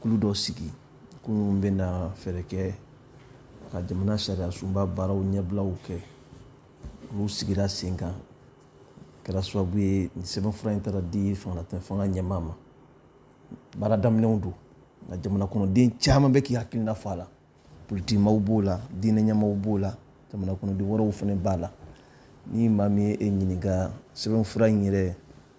kulu dɔ sigi kulu min bɛna fɛɛrɛ kɛ ka jamana sariyasunba baaraw ɲɛbilaw kɛ olu sigira sen kan kɛra sababu ye nin sɛbɛnfura in taara di fangalatɛn fanga ɲɛmaa ma baara daminɛw don nka jamana kɔnɔden caman bɛ k'i hakilina fɔ a la politikimaw b'o la diinɛ ɲɛmaaw b'o la jamana kɔnɔden wɛrɛw fana b'a la ni maa min ye e ɲininka sɛbɛnfura in yɛrɛ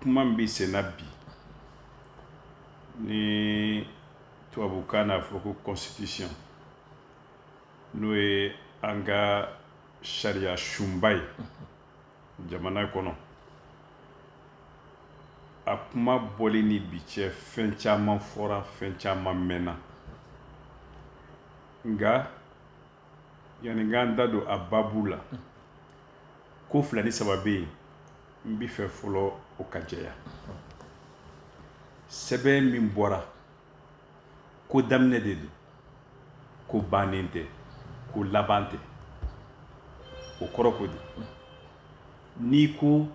kuma min bɛ senna bi ni tubabukan n'a fɔ ko constitution n'o ye an ka sariyasunba ye jamana kɔnɔ a kuma bɔli ni bi cɛ fɛn caman fɔra fɛn caman mɛnna nka yani an k'an da don a babu la ko fila ni saba bɛ yen n b'a fɛ fɔlɔ o ka jɛya sɛbɛn min bɔra ko daminɛ de don ko bannen tɛ ko laban tɛ o kɔrɔ ko di n'i ko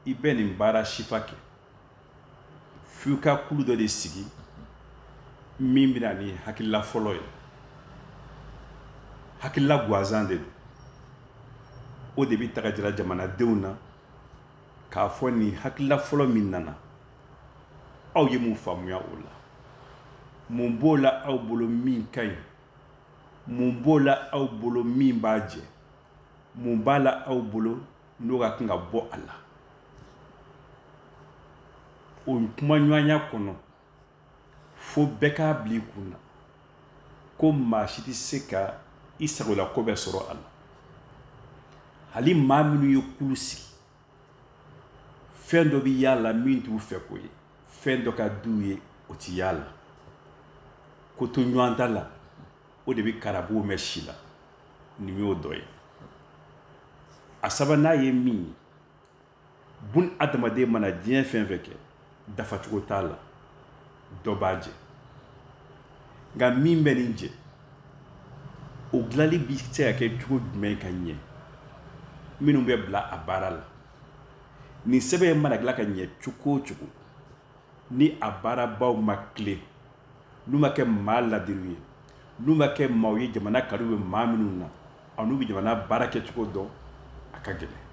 i bɛ nin baara sifa kɛ f'i ka kulu dɔ de sigi min bɛ na ni hakilila fɔlɔ ye hakilila gansan de don o de bɛ taga jira jamanadenw na k'a fɔ nin hakilila fɔlɔ min nana aw ye mun faamuya o la mun b'o la aw bolo min ka ɲi mun b'o la aw bolo min b'a jɛ mun b'a la aw bolo n'o ka kan ka bɔ a la o kumaɲɔgɔnya kɔnɔ fo bɛɛ k'a bila i kun na ko maa si tɛ se ka i sagolako bɛɛ sɔrɔ a la hali maa minnu ye kulu sigi fɛn dɔ bɛ y'a la min t'u fɛko ye fɛn dɔ ka d'u ye o ti y'a la kotoɲɔgɔntala o de bɛ karabugu mɛɛn si la nin y'o dɔ ye a sabanan ye min ye bunadamaden mana diɲɛ fɛn fɛn kɛ dafacogo t'a la dɔ b'a jɛ nka min bɛ nin jɛ o dilanli bi se ka kɛ cogo jumɛn ka ɲɛ minnu bɛ bila a baara la nin sɛbɛn in mana dilan ka ɲɛ cogo o cogo ni a baarabaw ma tilen n'u ma kɛ maa laadiriw ye n'u ma kɛ maaw ye jamana kanu bɛ maa minnu na an'u bɛ jamana baara kɛcogo dɔn a ka gɛlɛn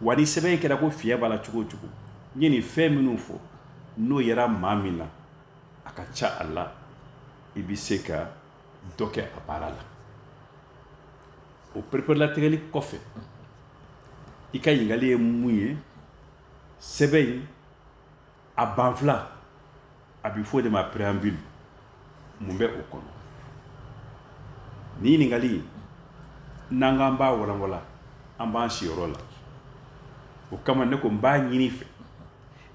wa ni sɛbɛn in kɛra ko fiɲɛ b'a la cogo o cogo n ye nin fɛn minnu fɔ n'o yera maa min na a ka ca a la i bɛ se ka dɔ kɛ a baara la o pereperelatigɛli kɔfɛ i ka ɲininkali ye mun ye sɛbɛn in a banfila a bɛ fɔ o de ma preambule mun bɛ o kɔnɔ nin ɲininkali in n'an k'an b'a walanwalan an b'an siyɔrɔ la o kama ne ko n b'a ɲini i fɛ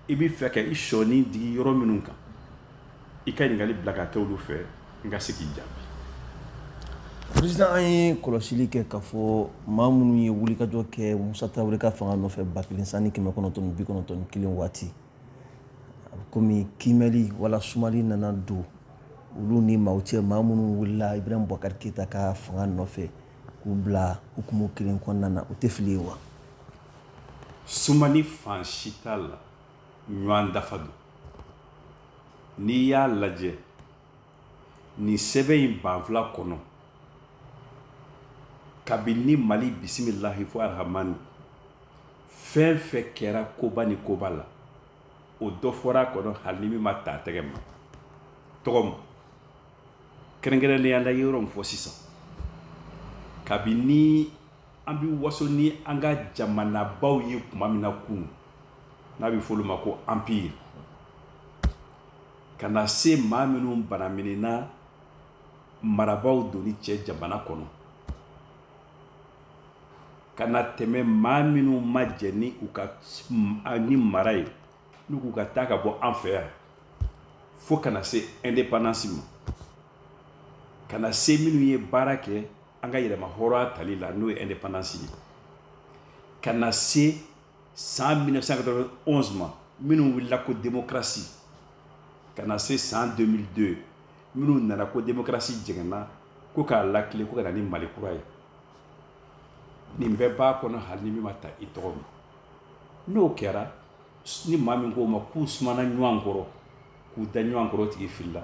i bɛ fɛ ka i sɔɔni digi yɔrɔ minnu kan i ka ɲininkali bila ka kɛ olu fɛ n ka se k'i jaabi président an ye kɔlɔsili kɛ k'a fɔ maa minnu ye wulikajɔ kɛ musa tarawele ka fanga nɔfɛ ba kelen san ni kɛmɛ kɔnɔntɔn ni bi kɔnɔntɔn ni kelen waati a bɛ komi kiimɛli wala sumali nana don olu ni maaw cɛ maa minnu wulila ibrahim bubakari keyita ka fanga nɔfɛ k'u bila hukumu kelen kɔnɔna na o tɛ fili ye wa sumani fan si t'a la ɲɔgɔn dafa don n'i y'a lajɛ nin sɛbɛn in banfula kɔnɔ kabini mali bisimilahi fo arahamani fɛn fɛn kɛra koba ni koba la o dɔ fɔra a kɔnɔ hali ni min ma ta tɛgɛ ma tɔgɔ ma kɛrɛnkɛrɛnnenya la yɔrɔ min fɔ sisan kabini an bɛ waso ni an ka jamanabaw ye tuma min na kunun n'a bɛ f'olu ma ko empire ka na se maa minnu banaminɛna marabaaw donni cɛ jamana kɔnɔ ka na tɛmɛ maa minnu ma jɛn ni u ka nin mara ye n'u k'u ka taa ka bɔ an fɛ yan fo ka na se indépendance ma ka na se minnu ye baara kɛ an ka yɛrɛmahɔrɔnya tali la n'o ye indépendance ye ka na se san 1991 ma minnu wulila ko démocratie ka na se san 2002 minnu nana ko démocratie jɛngɛnna ko k'a latilen ko ka na ni mali kura ye nin bɛɛ b'a kɔnɔ hali ni min ma ta i tɔgɔ ma n'o kɛra ni maa min k'o ma k'u sumana ɲɔgɔn kɔrɔ k'u da ɲɔgɔn kɔrɔ tigi filila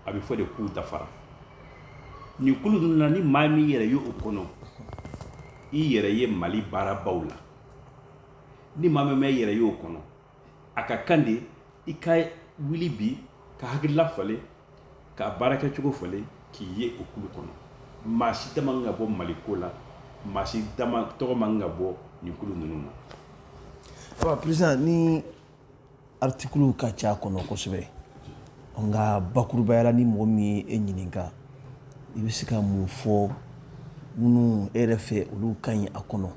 a bɛ fɔ de k'u dafara nin kulu ninnu na ni maa min yɛrɛ ye o kɔnɔ i yɛrɛ ye mali baarabaw la ni maa min ma i yɛrɛ y'o kɔnɔ a ka kan de i ka wuli bi ka hakilila falen ka baara kɛcogo falen k'i ye o kulu kɔnɔ maa si da man ka bɔ mali ko la maa si tɔgɔ man ka bɔ nin kulu ninnu na. ɔ peresidan ni artikuluw ka ca a kɔnɔ kosɛbɛ nka bakurubaya la ni mɔgɔ min ye e ɲininka i bɛ se ka mun fɔ minnu e yɛrɛ fɛ olu ka ɲi a kɔnɔ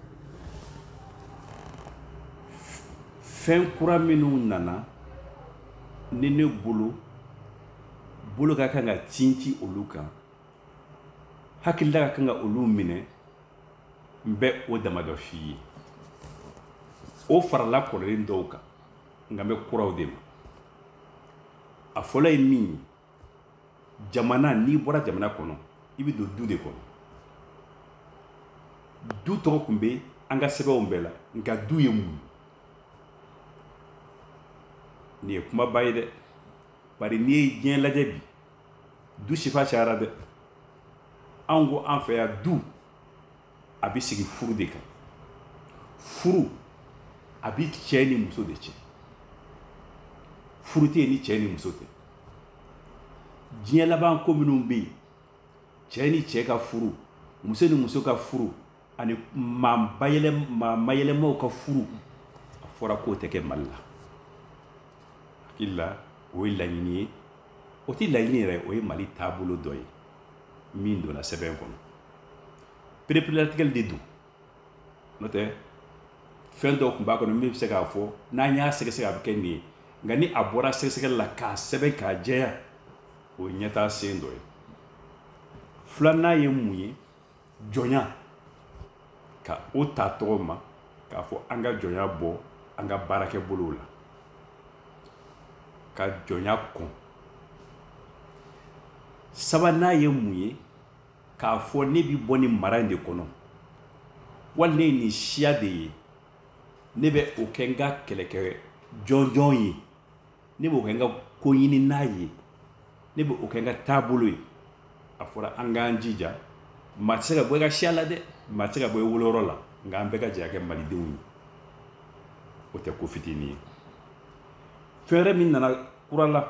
fɛn kura minnu nana ni ne bolo bolo ka kan ka tintin olu kan hakilila ka kan ka olu minɛ n bɛ o damadɔ f'i ye o farala kɔrɔlen dɔw kan nka n bɛ kuraw de ma a fɔlɔ ye min ye jamana n'i bɔra jamana kɔnɔ i bɛ don du de kɔnɔ du tɔgɔ tun bɛ an ka sɛbɛnw bɛɛ la nka du ye mun nin ye kumaba ye dɛ bari n'i ye diɲɛ lajɛ bi du sifa cayara dɛ anw ko an fɛ yan du a bɛ sigi furu de kan furu a bɛ cɛ ni muso de cɛ furu tɛ yen ni cɛ ni muso tɛ diɲɛ laban ko minnu bɛ yen cɛ ni cɛ ka furu muso ni muso ka furu ani maa bayɛlɛm maa mayɛlɛmaw ka furu a fɔra k'o tɛ kɛ mali la hakili la o ye laɲini ye o tɛ laɲini yɛrɛ o ye mali taabolo dɔ ye min donna sɛbɛn kɔnɔ pereperelatigɛli de don n'o tɛ fɛn dɔw tun b'a kɔnɔ min bɛ se k'a fɔ n'an y'a sɛgɛsɛgɛ a bɛ kɛ nin ye nka ni a bɔra sɛgɛsɛgɛli la k'a sɛbɛn k'a jɛya o ye ɲɛtaa sen dɔ ye filanan ye mun ye jɔnya ka o ta tɔgɔ ma k'a fɔ an ka jɔnya bɔ an ka baarakɛbolow la ka jɔnya kɔn sabanan ye mun ye k'a fɔ ne bi bɔ nin mara in de kɔnɔ wali ne ye nin siya de ye ne bɛ o kɛ n ka kɛlɛkɛ jɔnjɔn ye ne b'o kɛ n ka koɲininan ye ne bɛ o kɛ n ka taabolo ye a fɔra an k'an jija maa tɛ se ka bɔ i ka siya la dɛ maa tɛ se ka bɔ i woloyɔrɔ la nka an bɛɛ ka jɛ ka kɛ malidenw ye o tɛ ko fitinin ye fɛn wɛrɛ min nana kura la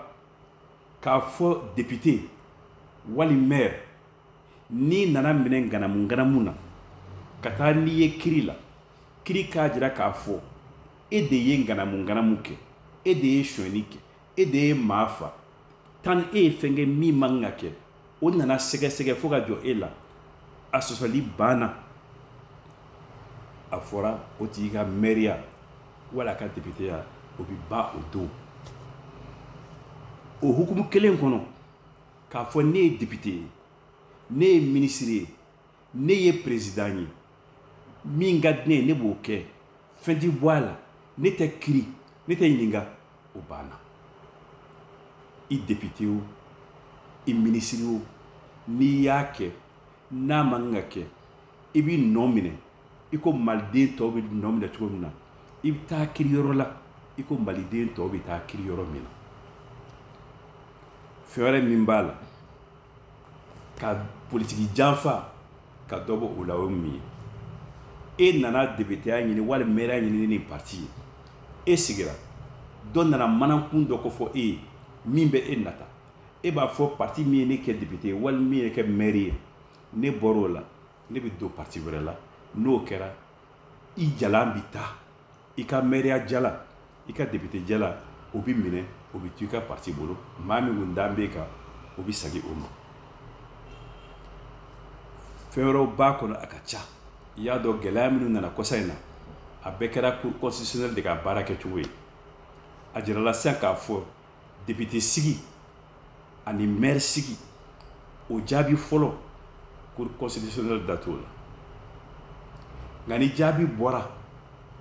k'a fɔ depite wali mɛri n'i nana minɛ ŋanamuŋanamu na ka taa n'i ye kiri la kiri k'a jira k'a fɔ e de ye ŋanamuŋanamu kɛ e de ye sonyɛni kɛ e de ye maa fa tan e ye fɛn kɛ min man ka kɛ o nana sɛgɛsɛgɛ fo ka jɔ e la a sɔsɔli banna a fɔra o tigi ka mɛriya wala a ka depiteya o bi ban o don o hukumu kelen kɔnɔ k'a fɔ ne ye depite ye ne ye minisiri ye ne ye perezidan ye min ka di ne ye ne b'o kɛ fɛn ti bɔ a la ne tɛ kiri ne tɛ ɲininka o banna i depite o i minisiri o n'i y'a kɛ n'a man kan ka kɛ i b'i nɔ minɛ i ko maliden tɔw bɛ nɔ minɛ cogo min na i bɛ taa kiri yɔrɔ la i ko maliden tɔw bɛ taa kiri yɔrɔ min na fɛn wɛrɛ min b'a la ka politiki janfa ka dɔ bɔ o la o ye mun ye e nana depiteya ɲini wali mɛriya ɲini ni nin parti ye e sigira dɔ nana manankun dɔ kofɔ e ye min bɛ e nata e b'a fɔ parti min ye ne kɛ depite ye wali min ye kɛ mɛri ye ne bɔr'o la ne bɛ don parti wɛrɛ la n'o kɛra i jalan bɛ taa i ka mɛriya jala i ka depite jala o bɛ minɛ o bɛ to i ka parti bolo maa min kun dan b'e kan o bɛ sagi o ma fɛn wɛrɛw b'a kɔnɔ a ka ca i y'a dɔn gɛlɛya minnu nana kɔsa in na a bɛɛ kɛra cour constitutionnelle de ka baara kɛcogo ye a jirala sisan k'a fɔ depite sigi ani mɛri sigi o jaabi fɔlɔ cour constitutionnelle da t'o la nka ni jaabi bɔra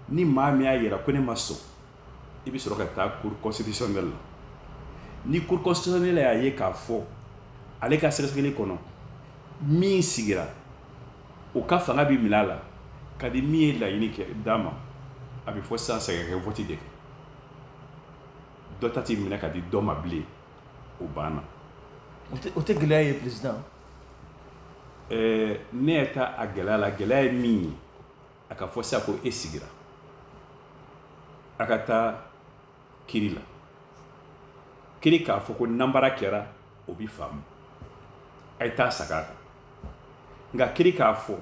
ni maa min y'a yira ko ne ma sɔn i bɛ sɔrɔ ka taa cour constitutionnelle la ni cour constitutionnelle y'a ye k'a fɔ ale ka sɛgɛsɛgɛli kɔnɔ min sigira o ka fanga bɛ minɛ a la ka di min ye laɲini kɛ d'a ma a bɛ fɔ sisan sagi ka vɔti de kɛ dɔ ta tɛ minɛ ka di dɔ ma bilen o banna o tɛ gɛlɛya ye président ɛɛ ne yɛrɛ ta a gɛlɛya la gɛlɛya ye min ye a ka fɔ sisan ko e sigira a ka taa kiri la kiri k'a fɔ ko nanbara kɛra o bi faamu a ye taa sagi a kan nka kiri k'a fɔ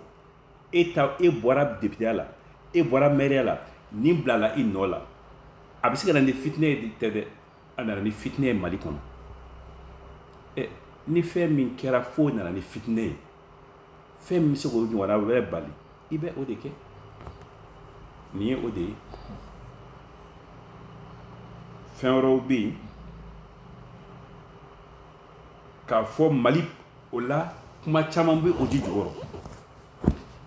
e ta e bɔra depiteya la e bɔra mɛriya la nin bilala i nɔ la a bɛ se ka na ni fitinɛ ye tɛ dɛ a nana ni fitinɛ ye mali kɔnɔ ɛ ni fɛn min kɛra fo nana ni fitinɛ ye fɛn min bɛ se k'o ɲɔgɔnna wɛrɛ bali i bɛ o de kɛ nin ye o de ye fɛn wɛrɛw bɛ yen k'a fɔ mali o la kuma caman bɛ o ji jukɔrɔ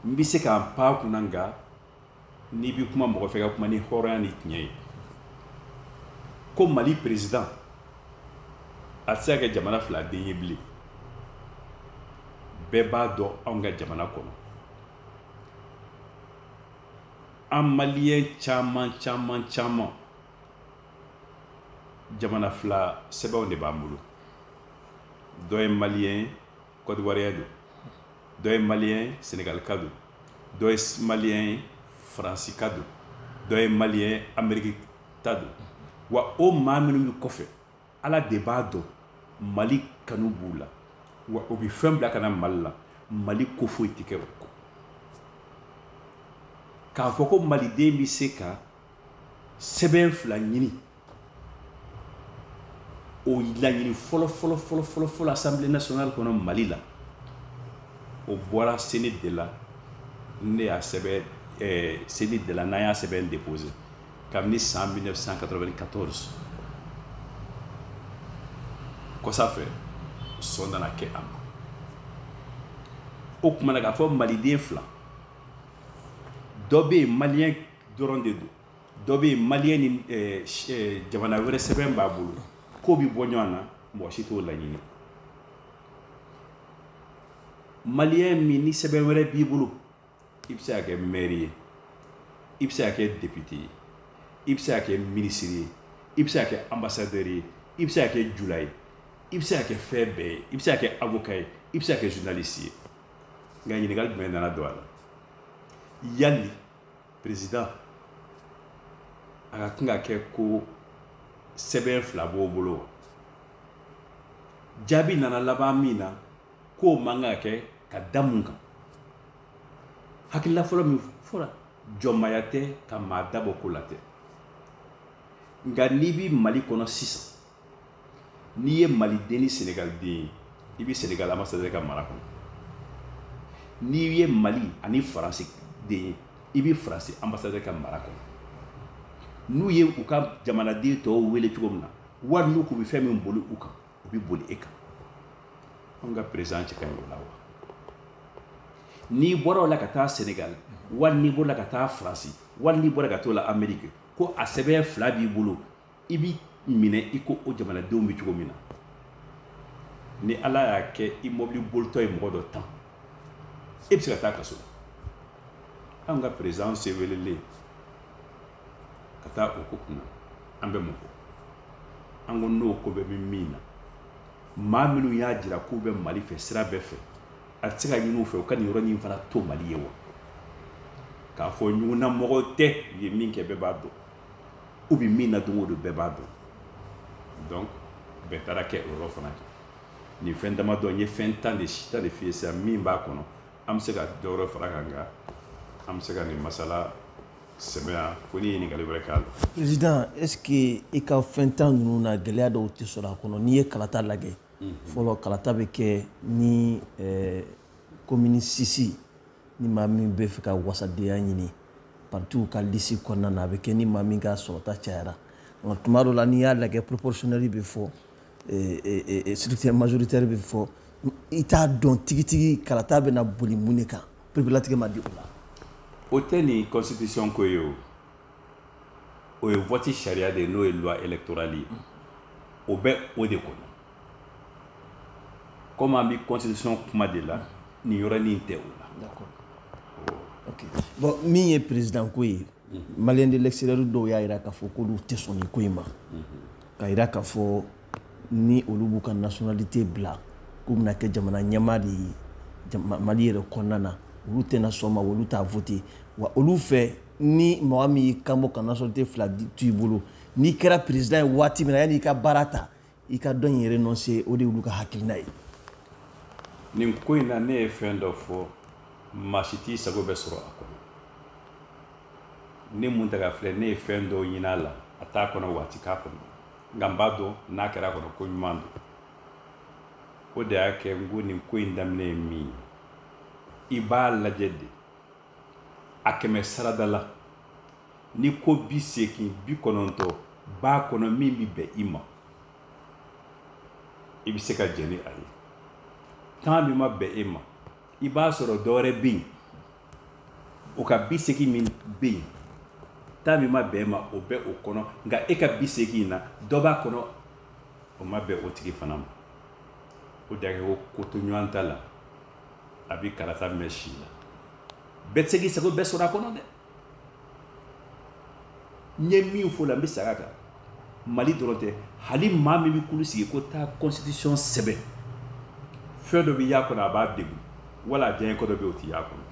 n bɛ se ka n pan a kunna nka n'i bɛ kuma mɔgɔ fɛ ka kuma ni hɔrɔnya ni tiɲɛ ye ko mali perezidan a tɛ se ka kɛ jamana fila den ye bilen bɛɛ b'a dɔn anw ka jamana kɔnɔ an maliyɛn caman caman caman jamana fila sɛbɛnw de b'an bolo dɔ ye maliyɛn kɔdiwariya don dɔ ye maliyɛn senegalika don dɔ ye maliyɛn faransika don dɔ ye maliyɛn ameriki ta don wa o maa minnu bɛ kɔfɛ ala de b'a dɔn mali kanu b'u la wa o bɛ fɛn bila ka na mali la mali ko foyi tɛ kɛ o kɔ k'a fɔ ko maliden bɛ se ka sɛbɛn fila ɲini o laɲini fɔlɔ fɔlɔ fɔlɔ fɔlɔ fɔlɔ assemblée nationale kɔnɔ mali la o bɔra CNID la ne y'a sɛbɛn eh, CNID la n'an y'a sɛbɛn déposé kabini san 1994 kɔsa fɛ sɔn nana kɛ a ma o tuma na k'a fɔ maliden fila dɔ bɛ yen maliyɛn dɔrɔn de don dɔ bɛ yen maliyɛn ni eh, eh, jamana wɛrɛ sɛbɛn b'a bolo k'o bɛ bɔ ɲɔgɔn na mɔgɔ si t'o laɲini maliyɛn min ni sɛbɛn wɛrɛ b'i bolo i bɛ se ka kɛ mɛri ye i bɛ se ka kɛ depite ye i bɛ se ka kɛ minisiri ye i bɛ se ka kɛ anbasadɛri ye i bɛ se ka kɛ jula ye i bɛ se ka kɛ fɛn bɛɛ ye i bɛ se ka kɛ avoka ye i bɛ se ka kɛ journaliste ye nka ɲininkali jumɛn nana don a la yali président a ka kan ka kɛ ko sɛbɛn fila b'o bolo wa jaabi nana laban min na k'o man kan ka kɛ ka da mun kan hakilila fɔlɔ min fɔra jɔnmaya tɛ ka maa dabɔ ko la tɛ nka n'i bi mali kɔnɔ sisan n'i ye maliden ni senegaliden ye i bɛ senegal ambassadeur ka mara kɔnɔ n'i ye mali ani faransi den ye i bɛ faransi ambassadeur ka mara kɔnɔ n'u ye u ka jamanaden tɔw wele cogo min na wali n'u k'u bɛ fɛn min boli u kan o bɛ boli e kan anw ka perezidan cɛ ka ɲi o la wa n'i bɔra o la ka taa senegal wali n'i bɔra ka taa faransi wali n'i bɔra ka taa lameriki ko a sɛbɛn fila b'i bolo i bi minɛ i ko o jamanadenw bɛ cogo min na ni ala y'a kɛ i mɔbili bolitɔ ye mɔgɔ dɔ tan e bɛ se ka taa kaso anw ka perezidan se welelen ka taa o ko kunna an bɛ mɔgɔ an ko n'o ko bɛ bɛ min na maa minnu y'a jira k'u bɛ mali fɛ sira bɛɛ fɛ a tɛ se ka ɲini u fɛ u ka nin yɔrɔ nin fana to mali ye wa k'a fɔ ɲugunnamɔgɔ tɛ u ye min kɛ bɛɛ b'a dɔn u bɛ min na don o don bɛɛ b'a dɔn donc bɛɛ taara kɛ o yɔrɔ fana kɛ nin fɛn damadɔ n ye fɛn tan de si tan de f'i ye sisan min b'a kɔnɔ an bɛ se ka dɔ wɛrɛ far'a kan nka an bɛ se ka nin masala sɛbɛn yan ko ni ɲininkali wɛrɛ k'a la. président est ce que i ka fɛn tan ninnu na gɛlɛya dɔw tɛ sɔrɔ a kɔnɔ n'i ye kalata lajɛ mhm. fɔlɔ kalata bɛ kɛ ni komini eh, sisi ni maa min b'a fɛ ka wasadenya ɲini partiw ka lisi kɔnɔna na a bɛ kɛ ni maa min ka sɔrɔta cayara nka tuma dɔ la n'i y'a lajɛ proportionnelle bɛ fɔ scrutin majoritaire bɛ fɔ i t'a dɔn tigitigi kalata bɛna boli mun de kan pereperelatigɛ ma di o la o tɛ nin constitution ko ye o o ye vote sariya de ye n'o ye loi électorale ye o bɛ o de kɔnɔ komi an bɛ constitution kuma de la nin yɔrɔnin tɛ o la ok bon min ye président ko ye maliens de l'extérieur dɔw y'a jira k'a fɔ k'olu tɛ sɔn nin ko in ma k'a jira k'a fɔ ni olu b'u ka nationalité bila k'u bɛna kɛ jamana ɲɛmaa de ye mali yɛrɛ kɔnɔna na olu tɛna sɔn a ma olu t'a vote wa olu fɛ ni mɔgɔ min y'i kanbɔ ka nationalité fila to i bolo n'i kɛra président ye waati min na yanni i ka baara ta i ka dɔ in renoncer o de y'olu ka hakilina ye nin ko in na ne ye fɛn dɔ fɔ maa si t'i sago bɛɛ sɔrɔ a kɔnɔ ne mun ta ka filɛ ne ye fɛn dɔw ɲin'a la a t'a kɔnɔ wa a tɛ k'a kɔnɔ nka n b'a dɔn n'a kɛra a kɔnɔ ko ɲuman don o de y'a kɛ n ko nin ko in daminɛ ye min ye i b'a lajɛ de a kɛmɛ sarada la ni ko bi seegin bi kɔnɔntɔn b'a kɔnɔ min bɛ bɛn i ma i bɛ se ka jɛn ni a ye tan min ma bɛn e ma i b'a sɔrɔ dɔwɛrɛ bɛ yen o ka bi seegin min bɛ yen tan min ma bɛn e ma o bɛ o kɔnɔ nka e ka bi seegin in na dɔ b'a kɔnɔ o ma bɛn o tigi fana ma o de y'a kɛ ko kotoɲɔgɔntala a bɛ karata mɛɛn si la bɛɛ tɛ se k'i sago bɛɛ sɔrɔ a kɔnɔ dɛ n ye min fɔ la n bɛ segin a kan mali dɔrɔn tɛ hali maa min bɛ kulu sigi ko taa constitution sɛbɛn fɛn dɔ bɛ y'a kɔnɔ a b'a degun wala a diyanyeko dɔ bɛ yen o tɛ y'a kɔnɔ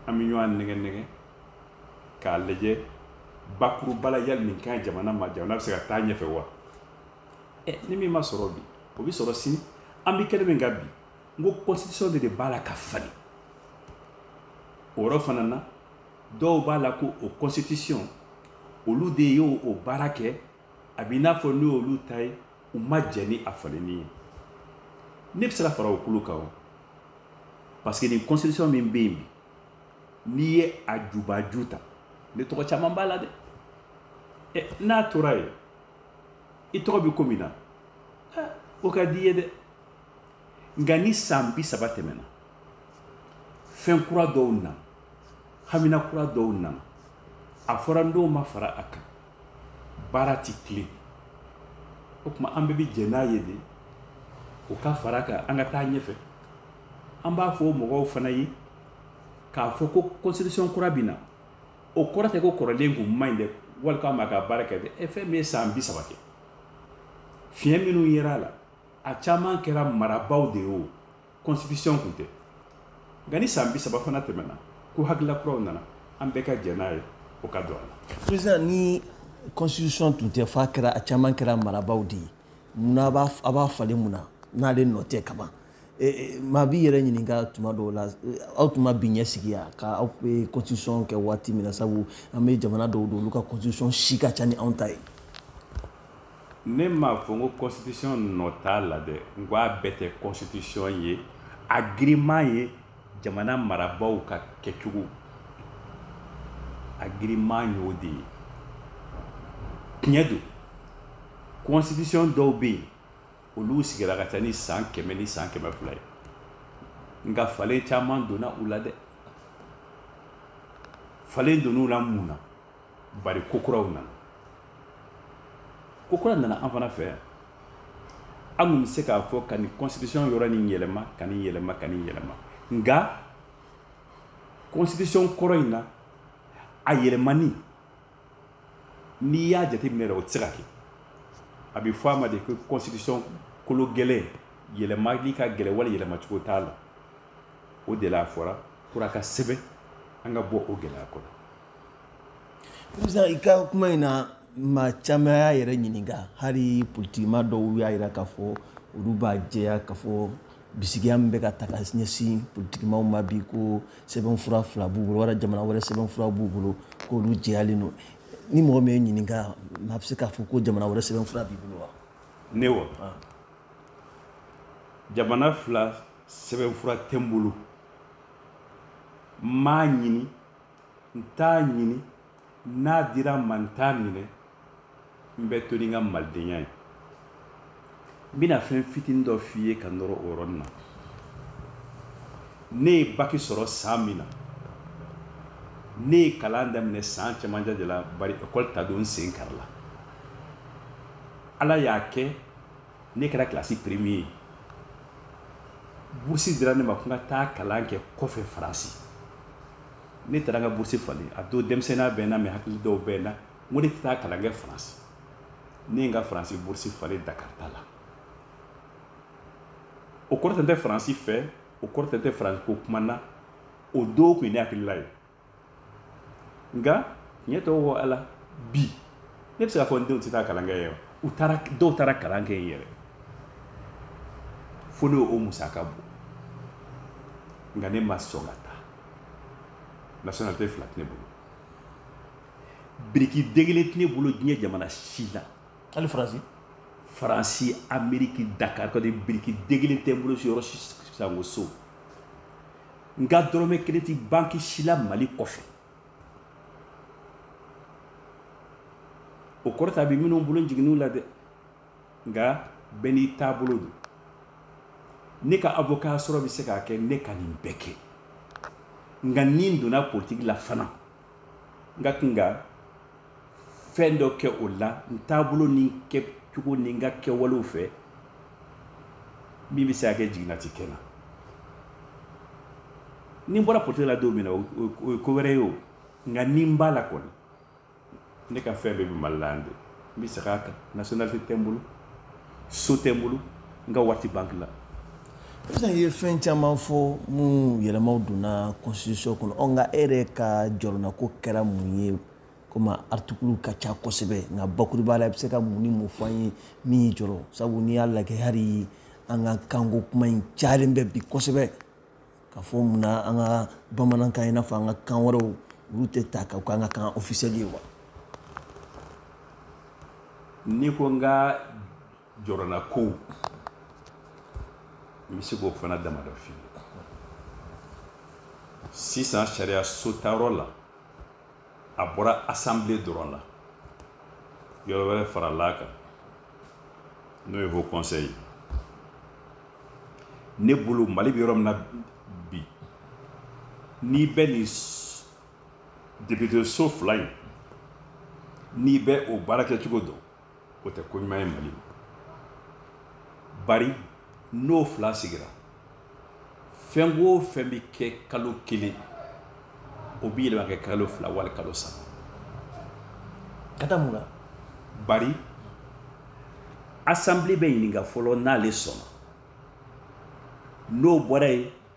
an bɛ ɲɔgɔn nɛgɛn nɛgɛn k'a lajɛ bakuruba la yali nin ka ɲi jamana ma jamana bɛ se ka taa ɲɛfɛ wa ni min ma sɔrɔ bi o bɛ sɔrɔ sini an bɛ kɛnɛ min kan bi n ko constitution de de b'a la ka falen o yɔrɔ fana na dɔw b'a la ko o constitution olu de y'o o baara kɛ a b'i n'a fɔ n'o y'olu ta ye u ma jɛ ni a falenni ye ne bɛ se ka fara o kulu kan wa parce que nin constitution min bɛ yen bi n'i ye a jubaju ta ne tɔgɔ caman b'a la dɛ ɛ n'a tora yen i tɔgɔ bɛ ko min na o ka di i ye dɛ nka ni san bi saba tɛmɛna fɛn kura dɔw nana hamina kura dɔw nana a fɔra n'o ma fara a kan baara tɛ tilen o tuma an bɛɛ bɛ jɛ n'a ye de o ka fara a kan an ka taa ɲɛfɛ an b'a fɔ mɔgɔw fana ye k'a fɔ ko constitution kura bɛ na o kɔrɔ tɛ ko kɔrɔlen tun man ɲi dɛ wali k'a m'a ka baara kɛ dɛ e fɛn min ye san bi saba kɛ fiɲɛ minnu yera a la a caman kɛra marabaaw de ye o constitution tun tɛ nka ni san bi saba fana tɛmɛna ko hakilila kuraw nana an bɛɛ ka jɛ n'a ye o ka don a la président ni constitution tun tɛ f'a kɛra a caman kɛra marabaaw de ye munna a b'a falen mun na n'ale nɔ tɛ kaban eh, eh, maa b'i yɛrɛ ɲininka tuma dɔw la eh, aw tun ma bi ɲɛsigi ya ka aw bɛ constitution kɛ waati min na sabu an bɛ jamana dɔw don olu ka constitution si ka ca ni anw ta ye ne m'a fɔ n ko constitution nɔ t'a la dɛ n ko a bɛɛ tɛ constitution ye a girinman ye jamana marabaaw ka kɛcogo a girinman y'o de ye tiɲɛ don constitution dɔw bɛ yen olu sigira ka ca ni san kɛmɛ ni san kɛmɛ fila ye nka falen caman donna u la dɛ falen donn'u la mun na bari ko kuraw nana ko kura nana an fana fɛ yan an tun bɛ se k'a fɔ ka nin constitution yɔrɔ nin yɛlɛma ka nin yɛlɛma ka nin yɛlɛma nka constitution kɔrɔ in na a yɛlɛmani n'i y'a jateminɛ yɛrɛ o tɛ se ka kɛ a bɛ fɔ a ma de ko constitution kolo gɛlɛn yɛlɛmali ka gɛlɛn wali yɛlɛma cogo t'a la o de la a fɔra pour a ka sɛbɛn an ka bɔ o gɛlɛya kɔnɔ. président i ka kuma in na maa caman y'a yɛrɛ ɲininka hali politikima dɔw y'a jira k'a fɔ olu b'a jɛya k'a fɔ bisigiya min bɛ ka ta ka ɲɛsin politikimaaw ma bi ko sɛbɛnfura fila b'u bolo wala jamana wɛrɛ sɛbɛnfura b'u bolo k'olu jɛyalen don ni mɔgɔ min y'i ɲininka a bɛ se k'a fɔ ko jamana wɛrɛ sɛbɛnfura b'i bolo wa ne wa ah. jamana fila sɛbɛnfura tɛ n bolo n m'a ɲini n t'a ɲini n'a dira n ma n t'a minɛ n bɛ to ni n ka malidenya ye n bɛna fɛn fitinin dɔ f'i ye ka nɔrɔ o yɔrɔnin na ne ye baki sɔrɔ san min na ne ye kalan daminɛ san cɛmancɛ de la bari ekɔli ta don n sen karila ala y'a kɛ ne kɛra kilasi premier ye burusi dira ne ma ko n ka taa kalan kɛ kɔfɛ faransi ne taara n ka bourse falen a don denmisɛnninya bɛ n na mɛ hakili dɔw bɛ n na n ko ne tɛ taa kalan kɛ faransi ne ye n ka faransi bourse falen dakari ta la o kɔrɔ tɛ n tɛ faransi fɛ o kɔrɔ tɛ n tɛ faransi ko kuma na o don tun ye ne hakilila ye nka tiɲɛ tɔgɔ ko ala bi ne bɛ se k'a fɔ n denw tɛ taa kalan kɛ yɛrɛ u taara dɔw taara kalan kɛ yen yɛrɛ fo ne y'o musaka bɔ nka ne ma sɔn ka taa nationalité fila tɛ ne bolo biriki den kelen tɛ ne bolo diɲɛ jamana si la hali faransi faransi ameriki dakar kɔni biriki den kelen tɛ n bolo yɔrɔ si sango so n ka dɔrɔmɛ kelen tɛ banki si la mali kɔfɛ o kɔrɔ t'a bɛ minnu bolo n jiginnen u la dɛ nka bɛɛ n'i taabolo don ne ka avocat sɔrɔ bɛ se k'a kɛ ne ka nin bɛɛ kɛ nka ni n donna politiki la fana n ka kan ka fɛn dɔ kɛ o la n taabolo ni n kɛcogo ni n ka kɛwalew fɛ min bɛ se k'a kɛ jiginna tɛ kɛ n na ni n bɔra politiki la don min na o ye ko wɛrɛ ye o nka ni n b'a la kɔni ne ka fɛn bɛɛ bɛ mali la yan de n bɛ segin a kan nationalité tɛ n bolo so tɛ n bolo n ka wari tɛ banki la sisan i ye fɛn caman fɔ minnu yɛlɛmaw donna constitution kɔnɔ ɔ nka e yɛrɛ ka jɔrɔnanko kɛra mun ye komi aritikiliw ka ca kosɛbɛ nka bakurubaya la i bɛ se ka mun ni mun fɔ an ye min y'i jɔrɔ sabu n'i y'a lajɛ hali an ka kanko kuma in cayalen bɛ bi kosɛbɛ k'a fɔ mun na an ka bamanankan i n'a fɔ an ka kan wɛrɛw olu tɛ ta ka k'an ka kan ofisɛli ye wa n'i ko n ka jɔrɔnankow n bɛ se k'o fana damadɔ f'i ye sisan sariya so ta yɔrɔ la a bɔra assemblée dɔrɔn la yɔrɔ wɛrɛ faral'a kan n'o ye haut conseil ne bolo mali bɛ yɔrɔ min na bi n'i bɛ nin député so fila in n'i bɛ o baara kɛcogo dɔn o tɛ ko ɲuman ye mali ma bari n'o fila sigira fɛn o fɛn bɛ kɛ kalo kelen o bɛ yɛlɛma kɛ kalo fila wali kalo saba ka da mun na bari asanbile bɛ ɲininka fɔlɔ n'ale sɔnna n'o bɔra yen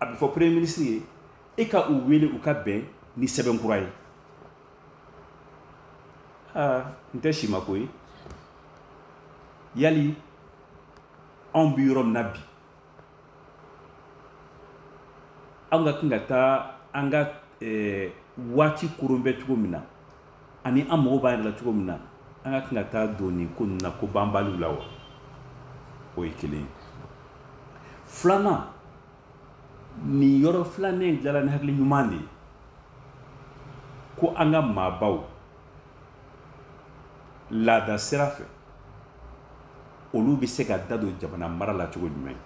a bɛ fɔ premier ministre ye e ka u wele u ka bɛn ni sɛbɛn kura ye aa n tɛ si ma ko ye yali anw bɛ yɔrɔ min na bi anw ka kan ka taa an ka eh, waati koron bɛ cogo min na ani an mago b'an yɛrɛ la cogo min na an ka kan ka taa don nin ko ninnu na ko banbaliw la wa o ye kelen ye filanan nin yɔrɔ filanan in dilala ni hakili ɲuman de ye ko an ka maabaw laada sira fɛ olu bɛ se ka da don jamana mara la cogo jumɛn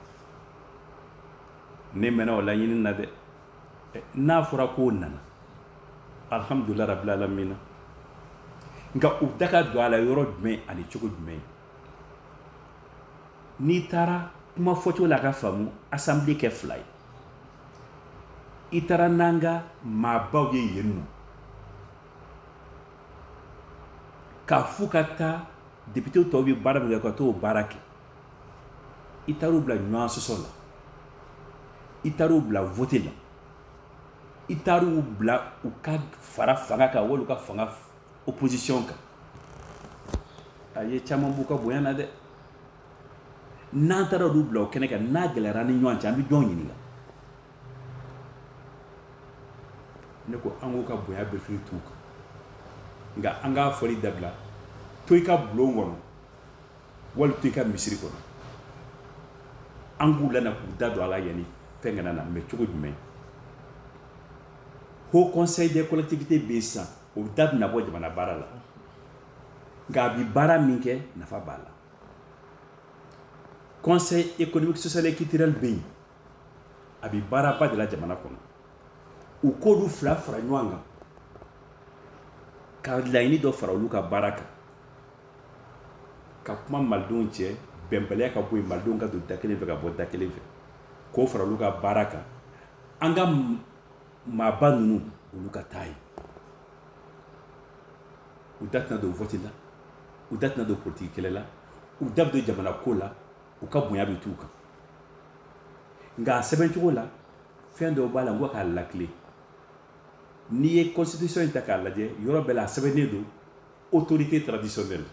ne mɛnna o laɲini na dɛ eh, n'a fɔra k'o nana alhamdulila rabila alamina nka u da ka don a la yɔrɔ jumɛn ani cogo jumɛn n'i taara kuma fɔcogo la k'a faamu asanbile kɛ fila ye i taara n'an ka maabaw ye yen nɔ k'a f'u ka taa depitew tɔw bɛ baara min kɛ ka t'o baara kɛ i taar'u bila ɲɔgɔn sɔsɔ la i taar'u bila vote la i taar'u bila u ka fara fanga kan wali u ka fanga opposition kan a ye caman b'u ka bonya na dɛ n'an taara olu bila o kɛnɛ kan n'a gɛlɛyara ni ɲɔgɔn cɛ an bɛ jɔn ɲininka ne ko an k'u ka bonya bɛɛ sigi t'u kan nka an k'a fɔli dabila to i ka bulon kɔnɔ wali to i ka misiri kɔnɔ an k'u lana k'u da don a la yanni fɛn kana na mɛ cogo jumɛn haut conseil des collectivités bɛ yen sisan o da bɛna bɔ jamana baara la nka a bi baara min kɛ nafa b'a la conseil économique social et culturel bɛ yen a bi baaraba de la jamana kɔnɔ u k'olu fila fara ɲɔgɔn kan ka laɲini dɔ fara olu ka baara kan ka kuma malidenw cɛ bɛnbaliya ka bɔ yen malidenw ka don da kelen fɛ ka bɔ da kelen fɛ k'o fara olu ka baara kan an ka maaba ninnu olu ka taa yen u da tɛna don vɔti la u da tɛna don politiki kɛlɛ la u da bɛ don jamana ko la u ka bonya bɛ t'u kan nka a sɛbɛn cogo la fɛn dɔw b'a la n ko k'a lakile n'i ye constitution in ta k'a lajɛ yɔrɔ bɛɛ la a sɛbɛnnen don autorité traditionnelle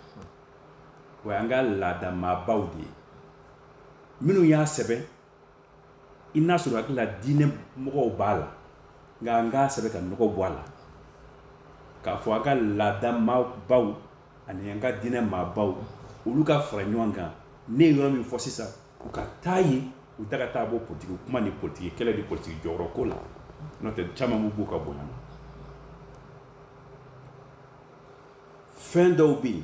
o y'an ka laadamaabaw de ye minnu y'a sɛbɛn i n'a sɔrɔ hakili la diinɛ mɔgɔw b'a la nka an k'a sɛbɛn ka nɔgɔ bɔ a la k'a fɔ an ka laada maabaw ani an ka diinɛ maabaw olu ka fara ɲɔgɔn kan ne ye yɔrɔ min fɔ sisan u ka taa yen u da ka taa bɔ politiki kuma ni politiki kɛlɛ ni politiki jɔyɔrɔ ko la n'o tɛ caman bɛ b'u ka bonya na fɛn dɔw bɛ yen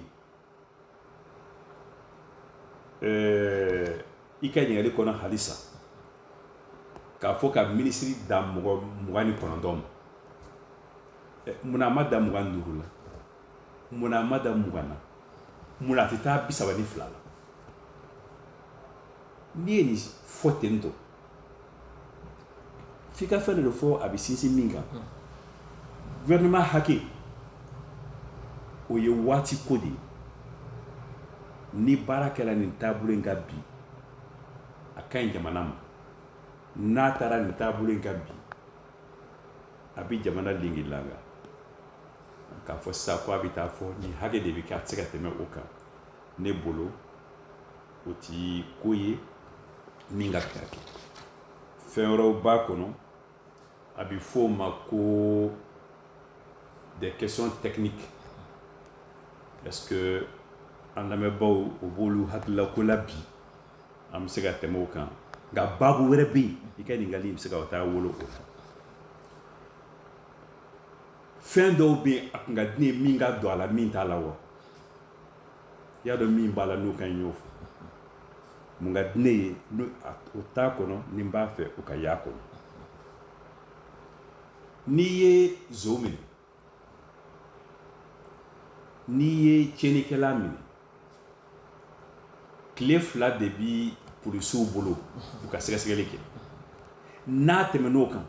ɛɛ i ka ɲininkali kɔnɔ halisa k'a fɔ ka minisiri dan mugan ni kɔnɔntɔn ma munna a ma dan mugan ni duuru la munna a ma dan mugan na munna a tɛ taa bi saba ni fila la n'i ye nin fɔ ten dɔrɔn f'i ka fɛn dɔ de fɔ a bɛ sinsin min kan gouvernement hakɛ o ye waati ko de ye ni baara kɛra nin taabolo in kan bi a ka ɲi jamana ma n'a taara nin taabolo in kan bi a bɛ jamana lengelanga k'a fɔ sisan ko a bɛ taa fɔ nin hakɛ de bɛ kɛ a tɛ se ka tɛmɛ o kan ne bolo o ti ko ye min ka kan ka kɛ fɛn wɛrɛw b'a kɔnɔ a bɛ fɔ o ma ko des questions techniques est-ce que an lamɛnbaaw o b'olu hakilila ko la bi an bɛ se ka tɛmɛ o kan nka baabu wɛrɛ bɛ yen i ka ɲininkali bɛ se ka taa wolo o la fɛn dɔw bɛ yen a tun ka di ne ye min ka don a la min t'a la wa i y'a dɔn min b'a la n'o ka ɲi y'o fɔ mun ka di ne ye n'o t'a kɔnɔ ni n b'a fɛ o ka y'a kɔnɔ n'i ye zon minɛ n'i ye tiɲɛnikɛla minɛ tile fila de bi polisiw bolo u ka sɛgɛsɛgɛli kɛ n'a tɛmɛn'o kan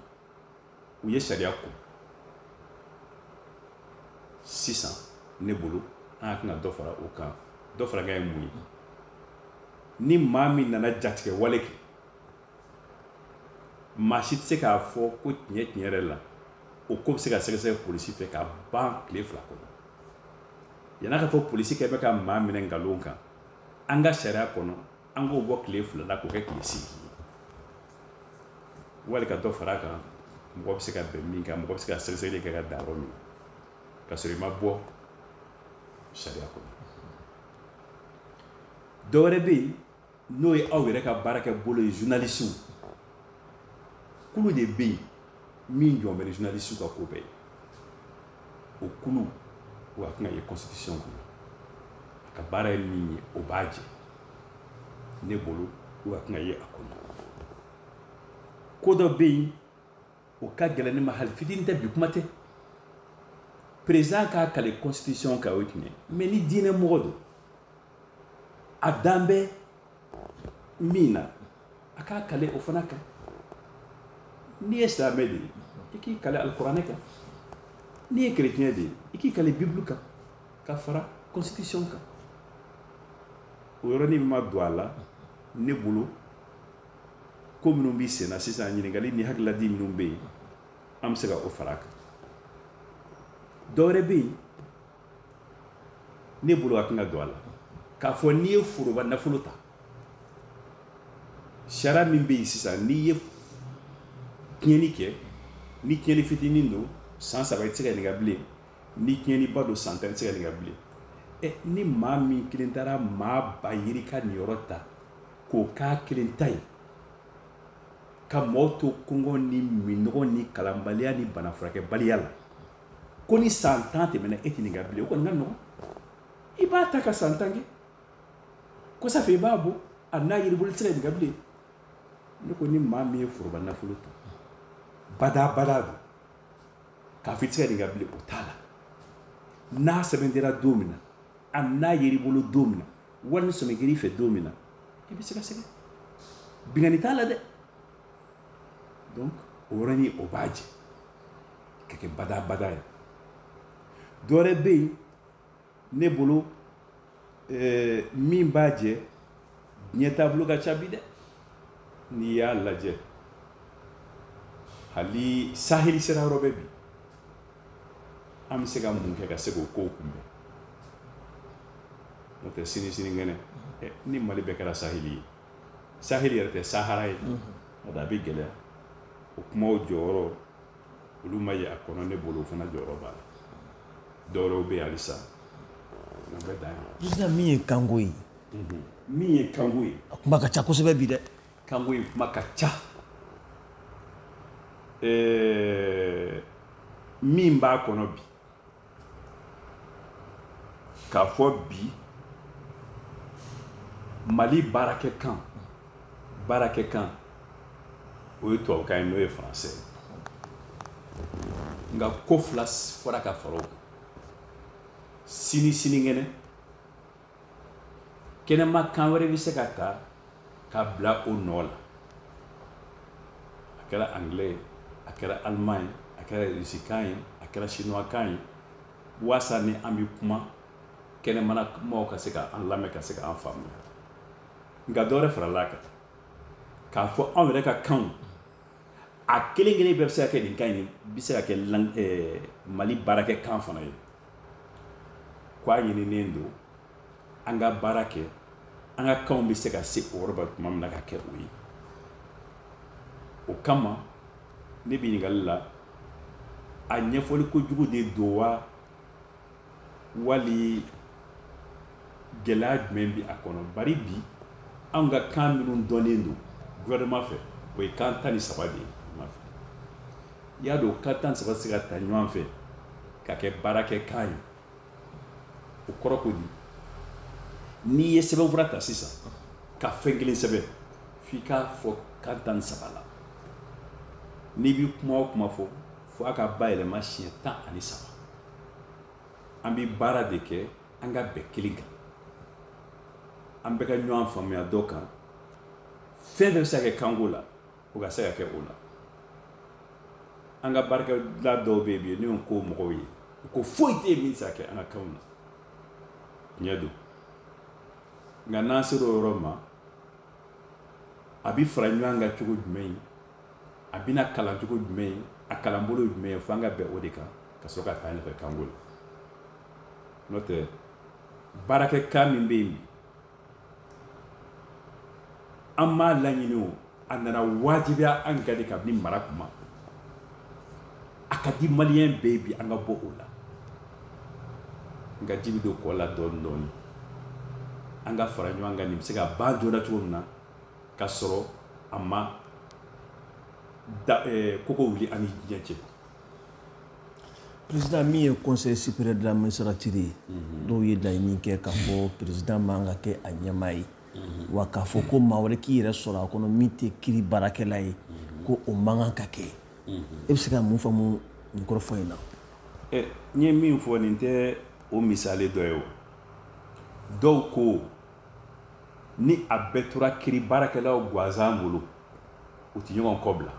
u ye sariya ko sisan ne bolo an ka kan ka dɔ fara o kan dɔ fara kan ye mun ye ni maa min nana jatigɛwale kɛ maa si tɛ se k'a fɔ ko tiɲɛ tiɲɛ yɛrɛ la o ko bɛ se ka sɛgɛsɛgɛ polisi fɛ ka ban tile fila kɔnɔ yann'a ka fɔ polisikɛ bɛ ka maa minɛ nkalon kan an ka sariya kɔnɔ an k'o bɔ tile fila la k'o kɛ tile seegin ye wali ka dɔ fara kan mɔgɔ bɛ se ka bɛn min kan mɔgɔ bɛ se ka sɛgɛsɛgɛli kɛ ka dan yɔrɔ min k'a sɔrɔ i ma bɔ sariya kɔnɔ dɔ wɛrɛ bɛ yen n'o ye aw yɛrɛ ka baarakɛbolo ye journalisiw kulu de bɛ yen min jɔlen bɛ ni journalisiw ka ko bɛɛ ye o kulu o a ka kan ka ye constitution kɔnɔ a ka baara ye min ye o b'a jɛ ne bolo o ka kan ka ye a kɔnɔ ko dɔ bɛ yen o ka gɛlɛn ne ma hali fitini tɛ bi kuma tɛ peresidan k'a kali constitution kan o ye tiɲɛ ye mais ni diinɛ mɔgɔ don a dalen bɛ min na a k'a kali o fana kan n'i ye silamɛ de ye i k'i kali alikuranɛ kan n'i ye kerecɛn de ye i k'i kali bibulu kan ka fara constitution kan o yɔrɔnin ma don a la ne bolo ko minnu bɛ sen na sisan ɲininkali ni hakililadi minnu bɛ yen an bɛ se ka o fara a kan dɔwɛrɛ bɛ yen ne bolo a ka kan ka don a la k'a fɔ n'i ye foroba nafolo ta sariya min bɛ yen sisan n'i ye tiɲɛni kɛ ni tiɲɛni fitinin don san saba i tɛ se ka ɲininka bilen ni tiɲɛniba don san tan i tɛ se ka ɲininka bilen ɛ ni maa min kelen taara maa ba yirika niyɔrɔ ta k'o k'a kelen ta ye ka mɔgɔw to kɔngɔ ni minɔgɔ ni kalanbaliya ni bana furakɛbaliya la ko ni san tan tɛmɛna e tɛ ɲininka bilen o kɔni ka nɔgɔn i b'a ta ka san tan kɛ kɔsa fɛ i b'a bɔ a n'a yer'i bolo i tɛ se ka ɲininka bilen ne ko ni maa min ye foroba nafolo ta badaa badaa don k'a fɔ i tɛ se ka ɲininka bilen o t'a la n'a sɛmɛntiyara don min na a n'a yer'i bolo don min na wala ni sɔmi kɛr'i fɛ don min na i bɛ sɛgɛsɛgɛ binkanni t'a la dɛ donc o yɔrɔnin o b'a jɛ ka kɛ badabada ye dɔ wɛrɛ bɛ yen ne bolo eh, min b'a jɛ diɲɛ taabolo ka ca bi dɛ n'i y'a lajɛ hali saheli sera yɔrɔ bɛɛ bi an bɛ se ka mun kɛ ka se k'o kow kunbɛn n'o tɛ sini sininkɛnɛ eh, ni mali bɛɛ kɛra saheli ye saheli yɛrɛ tɛ sahara ye a da a bɛ gɛlɛya o kumaw jɔyɔrɔ olu ma ye a kɔnɔ ne bolo o fana jɔyɔrɔ b'a la dɔwɛrɛw bɛ yen halisa an bɛ dan yan president min ye kanko ye min ye kanko ye a kuma ka ca kosɛbɛ bi dɛ kanko ye kuma ka ca ɛɛ min b'a kɔnɔ bi k'a fɔ bi mali baarakɛ kan baarakɛ kan o ye tubabukan ye n'o ye faransɛ nka ko fila fɔra ka fara o kan sini sinikɛnɛ kɛnɛma kan wɛrɛ bɛ se ka ta ka bila o nɔ la a kɛra anglais ye a kɛra allemand ye a kɛra rusikan ye a kɛra chinoiskan ye waasa ni an bɛ kuma kɛnɛmana maaw ka se ka an lamɛn ka se ka an faamuya nka dɔ wɛrɛ farala a kan k'a fɔ anw yɛrɛ ka kanw a kelen kelen bɛɛ bɛ se ka kɛ nin kan in bɛ se ka kɛ mali baarakɛ kan fana ye ko a ɲininen don an ka baara kɛ an ka kanw bɛ se ka se o yɔrɔ ma tuma min na ka kɛ o ye o kama ne bɛ ɲininkali la a ɲɛfɔli kojugu de don wa wali gɛlɛya jumɛn bɛ a kɔnɔ bari bi anw ka kan minnu dɔnnen don gouvernement fɛ o ye kan tan ni saba de ye i y'a dɔn kan tan saba bɛ se ka ta ɲɔgɔn fɛ ka kɛ baarakɛ kan ye o kɔrɔ ko di n'i ye sɛbɛnfura ta sisan ka fɛn kelen sɛbɛn f'i k'a fɔ kan tan saba la n'i bi kuma o kuma fɔ fo a ka bayɛlɛma siɲɛ tan ani saba an bi baara de kɛ an ka bɛn kelen kan an bɛɛ ka ɲɔgɔn faamuya dɔ kan fɛn fɛn bɛ se ka kɛ kanko la o ka se ka kɛ o la an ka baarakɛla dɔw bɛ yen bi n'o ko mɔgɔw ye ko foyi tɛ yen min tɛ se ka kɛ an ka kanw na tiɲɛ don nka n'an sera o yɔrɔ ma a bɛ fara ɲɔgɔn kan cogo jumɛn ye a bɛna kalan cogo jumɛn ye a kalanbolo ye jumɛn ye fo an ka bɛn o de kan ka sɔrɔ ka taa ɲɛfɛ kanko la n'o tɛ baarakɛ kan min bɛ yen bi an m'a laɲini o a nana wajibiya an kan de kabini mara kuma a ka di maliyɛn bɛɛ bi an ka bɔ o la nka ji bɛ don kɔ la dɔɔni dɔɔni an ka fara ɲɔgɔn kan nin bɛ se ka ban joona cogo min na ka sɔrɔ a ma da koko wuli an ni diɲɛ cɛ président min ye conseil supérieur de la magistrature ye dɔw ye laɲini kɛ k'a fɔ président man ka kɛ a ɲɛmaa ye wa k'a fɔ ko maa wɛrɛ k'i yɛrɛ sɔrɔ a kɔnɔ min tɛ kiri baarakɛla ye ko o man kan ka kɛ e bɛ se ka mun faamu nin kɔrɔfɔ in na eh, n ye min fɔ nin tɛ o misali dɔ ye o dɔw ko ni a bɛɛ tora kiri baarakɛlaw gansan bolo u tɛ ɲɔgɔn kɔ bila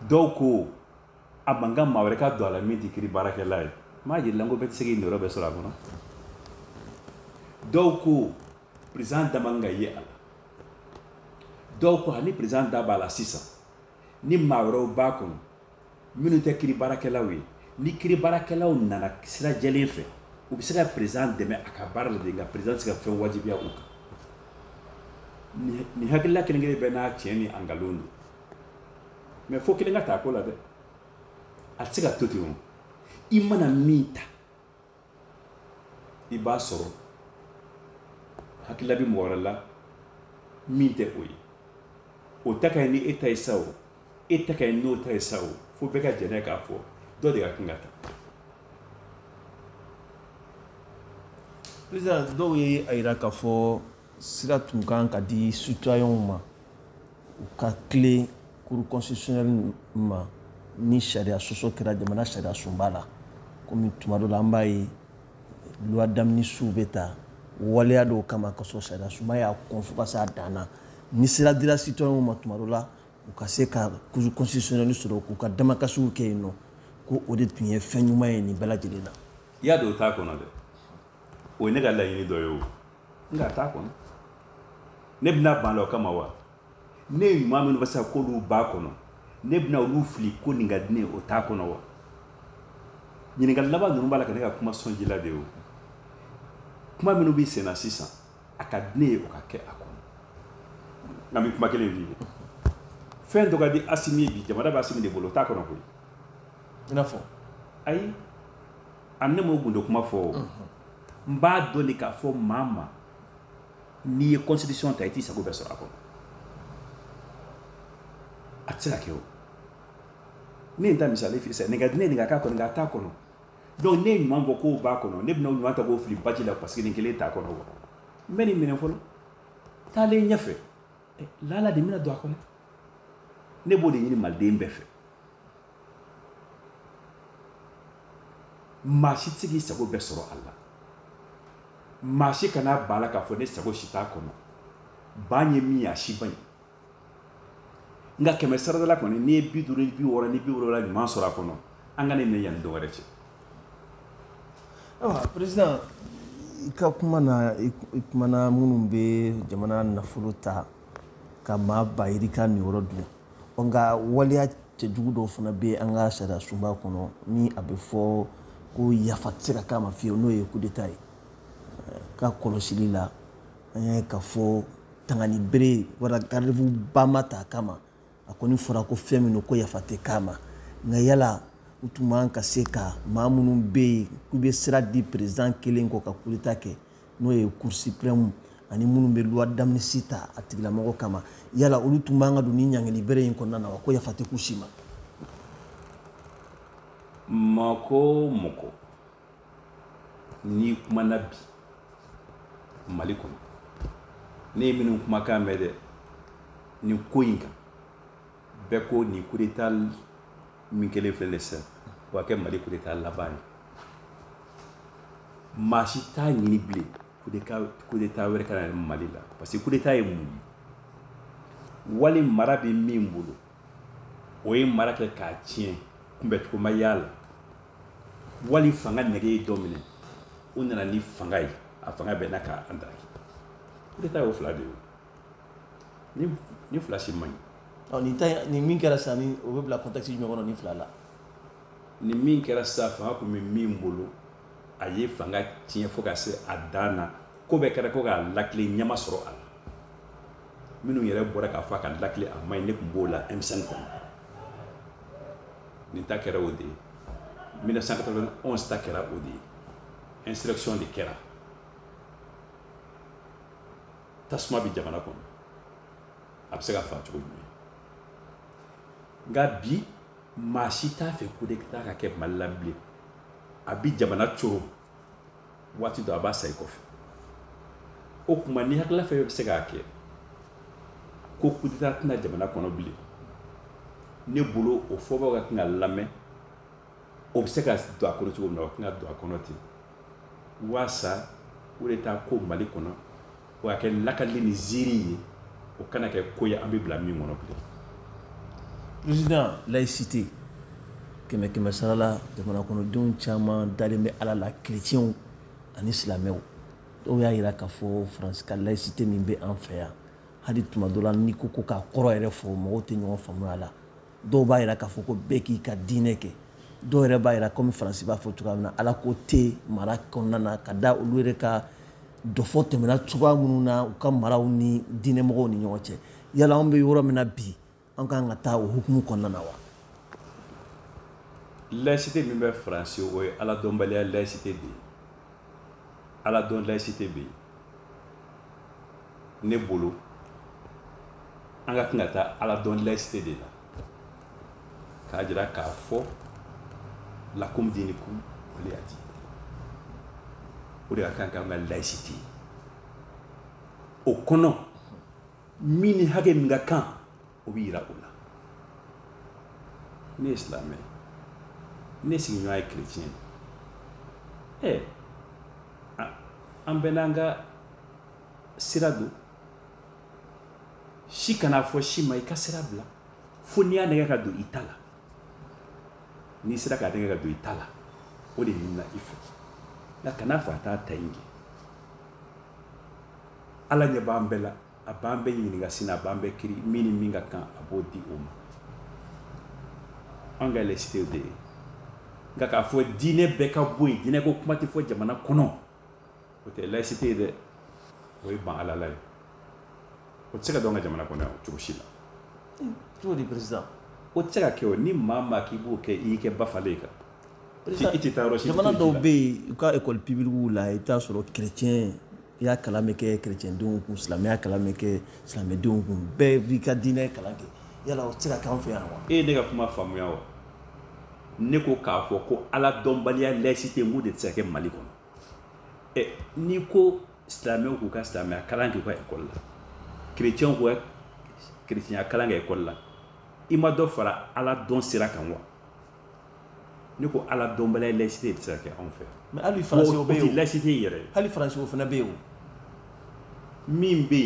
dɔw ko a man kan maa wɛrɛ ka don a la min tɛ kiri baarakɛla ye n b'a jira i la ko bɛɛ tɛ se k'i niyɔrɔ bɛɛ sɔrɔ a kɔnɔ dɔw ko perezidan da man kan ka ye a la dɔw ko ani perezidan da b'a la sisan ni maa wɛrɛw b'a kɔnɔ minnu tɛ kiri baarakɛlaw ye ni kiri baarakɛlaw nana sira jɛlen fɛ u bɛ se ka perezidan dɛmɛ a ka baara la de nka perezidan tɛ se ka fɛn wajibiya u kan nin hakilila kelen-kelen bɛɛ n'a tiɲɛ ni a nkalon don mais fo kelen ka ta ko la dɛ a tɛ se ka to ten o i mana min ta i b'a sɔrɔ hakilila bɛ mɔgɔ wɛrɛ la min tɛ o ye o ta ka ɲi ni e ta ye sa o e ta ka ɲi n'o ta ye sa o fo bɛɛ ka jɛn n'a ye k'a fɔ dɔ de ka kan ka ta président dɔw ye a yira k'a fɔ sira tun ka kan ka di citoyenw ma u ka tilen cour constitutionnelle ma ni sariya sɔsɔ kɛra jamana sariya sunba la komi tuma dɔ la an b'a ye loi d'amnistie bɛ ta waleya dɔw kama ka sɔrɔ sariya sunba y'a kɔn fo ka se a dan na ni sira dira citoyenw ma tuma dɔ la u ka se ka cour constitutionnelle sɔrɔ k'u ka damakasiw kɛ yen ne ko o de tun ye fɛn ɲuman ye nin bɛɛ lajɛlen na i y'a dɔn o t'a kɔnɔ dɛ o ye ne ka laɲini dɔ ye o nka a t'a kɔnɔ ne bɛna ban a la o kama wa ne ye ɲuman minnu fɔ sisan k'olu b'a kɔnɔ ne bɛna olu fili ko nin ka di ne ye o t'a kɔnɔ wa ɲininkali laban ninnu b'a la ka ne ka kuma sɔnji la de ye o kuma minnu b'i senna sisan a ka di ne ye o ka kɛ a kɔnɔ an bɛ kuma kelen f'i ye fɛn dɔ ka di asimi ye bi jamana bɛ asimi de bolo o t'a kɔnɔ koyi i n'a fɔ ayi ani ne m'o gundo kuma fɔ o n b'a dɔn de k'a fɔ maa ma n'i ye constitution ta i t'i sago bɛɛ sɔrɔ a kɔnɔ a tɛ se ka kɛ o ne ye n ta misali f'i ye sisan nin ka di ne ye nin ka k'a kɔnɔ nka a t'a kɔnɔ donc ne ye ɲuman fɔ k'o b'a kɔnɔ ne bɛna ɲuman ta k'o fili baji la parce que nin kelen t'a kɔnɔ wa n bɛ nin minɛ fɔlɔ taalen ɲɛfɛ lala nin bɛna don a kɔnɔ ne b'o de ɲini maliden bɛɛ fɛ maa si tɛ se k'i sago bɛɛ sɔrɔ a la maa si kana ban a la k'a fɔ ne sago si t'a kɔnɔ ban ye min ye a si man ɲi nka kɛmɛ saradala kɔni n'i ye bi duuru ni bi wɔɔrɔ ni bi wolonwula ɲuman sɔrɔ a kɔnɔ an ka nin minɛ yanni don wɛrɛ cɛ ayiwa perezidan i ka kuma na i kumana minnu bɛ jamana nafolo ta ka maa ba yirika niyɔrɔ dun nka waleya cɛjugu dɔw fana bɛ an ka sariyasunba kɔnɔ ni a bɛ fɔ ko yafa tɛ se ka k'a ma fiyewu n'o ye kudeta ye ka kɔlɔsili la an y'a ye k'a fɔ tangani bere wala garde-fou ba ma ta a kama a kɔni fɔra ko fɛn min don ko yafa tɛ k'a ma nka yala u tun man ka se ka maa minnu bɛ yen k'u bɛ sira di président kelen kɔ ka kudeta kɛ n'o ye cour suprême ani minnu bɛ loi d'amnistie ta a tigilamɔgɔ kama yala olu tun man ka don nin ɲangili bere in kɔnɔna na wa ko yafa tɛ k'u si ma mɔgɔ o mɔgɔ n'i kumana bi mali kɔnɔ ne ye minnu kumakan mɛn dɛ nin ko in kan bɛɛ ko nin kudeta min kɛlen filɛ nin sisan o ka kɛ mali kudeta laban ye maa si t'a ɲini bilen kudeta wɛrɛ kana na mali la parce que kudeta ye mun ye wali mara bɛ min bolo o ye mara kɛ k'a tiɲɛ kunbɛncogo ma y'a la wali fanga nɛgɛ ye dɔ minɛ o nana ni fanga ye a fanga bɛnna k'an daraki kudeta y'o fila de ye nin fila si man ɲi nin ta nin min kɛra sisan ni o bɛ bila contexte jumɛn kɔnɔ nin fila la nin min kɛra sisan fanga tun bɛ min bolo a ye fanga tiɲɛ fo ka se a dan na ko bɛɛ kɛra ko k'a latilen ɲɛ ma sɔrɔ a la minnu yɛrɛ bɔra k'a fɔ a k'a latilen a man ɲi ne tun b'o la emisɛn kɔnɔ nin ta kɛra o de ye 1991 ta kɛra o de ye insurrection de kɛra tasuma bɛ jamana kɔnɔ a bɛ se ka faga cogo jumɛn nka bi maa si t'a fɛ kudeta ka kɛ mali la bilen a bi jamana coron waati dɔ a b'a sayi kɔfɛ o tuma ni hakilila fɛn bɛ se k'a kɛ ko kudeta tɛ na jamana kɔnɔ bilen ne bolo o fɔbaaw ka kan ka lamɛn o bɛ se ka don a kɔnɔ cogo min na o tɛna don a kɔnɔ ten waasa kudeta ko mali kɔnɔ o ka kɛ lakali ni ziiri ye o kana kɛ ko ye an bɛ bila min kɔnɔ bilen président laïcité kɛmɛ kɛmɛ sara la jamanakɔnɔdenw caman dalen bɛ ala la kerecɛnw ani silamɛw dɔw y'a yira k'a fɔ faransi ka laïcité min bɛ an fɛ yan hali tuma dɔ la n'i ko ko k'a kɔrɔ yɛrɛ fɔ mɔgɔw tɛ ɲɔgɔn faamuya a la dɔw b'a yira k'a fɔ ko bɛɛ k'i ka diinɛ kɛ dɔw yɛrɛ b'a yira komi faransi b'a fɔ cogoya min na ala ko tɛ mara kɔnɔna na ka da olu yɛrɛ ka dɔfɔ tɛmɛna cogoya minnu na u ka maraw ni diinɛmɔgɔw ni ɲɔgɔn cɛ yala anw bɛ yɔrɔ min na bi an kan ka taa o hukumu kɔnɔna na wa laïcité min bɛ faransi o ye aladɔnbaliya laïcité de ye ala dɔn laïcité bɛ yen ne bolo an ka kan ka taa ala dɔn laïcité de la k'a jira k'a fɔ lakum dinikum waliya diin o de ka kan k'an ka laïcité ye o kɔnɔ min ni hakɛ min ka kan o bɛ yira o la ne ye silamɛ ye ne sigiɲɔgɔn ye kerecɛn ye ɛ an bɛɛ n'an ka sira don si kan'a fɔ si ma i ka sira bila fo n'i y'a nɛgɛn ka don i ta la n'i sera k'a nɛgɛn ka don i ta la o de ɲinina i fɛ nka kana fɔ a t'a ta in kɛ ala ɲɛ b'an bɛɛ la a b'an bɛɛ ɲininka sini a b'an bɛɛ kiiri min ni min ka kan a b'o di o ma an ka laïcité y'o de ye nka k'a fɔ diinɛ bɛɛ ka bɔ yen diinɛ ko kuma tɛ fɔ jamana kɔnɔ o tɛ laïcité ye dɛ o ye ban ala la ye o tɛ se ka don an ka jamana kɔnɔ yan cogo si la cogo di peresidan o tɛ se ka kɛ o ni maa maa k'i b'o kɛ i y'i kɛ bafalen ye kan jamana dɔw bɛ yen u ka ekɔli pibilikiw la i bɛ t'a sɔrɔ kerecɛnya kalan bɛ kɛ kerecɛndenw kun silamɛya kalan bɛ kɛ silamɛdenw kun bɛɛ b'i ka diinɛ kalan kɛ yala o tɛ se ka k'an fɛ yan wa. e ye ne ka kuma faamuya wa ne ko k'a fɔ ko ala dɔnbaliya laïcité n k'o de tɛ se ka kɛ mali kɔnɔ ɛ n'i ko silamɛw k'u ka silamɛya kalan k'u ka ekɔli la kerecɛnw k'u ka kerecɛnya kalan kɛ ekɔli la i ma dɔ fara ala dɔn sira kan wa. ne ko ala dɔnbaliya laïcité tɛ se ka kɛ anw fɛ mais hali faransiw bɛ yen laïcité yɛrɛ hali faransiw fana bɛ yen min bɛ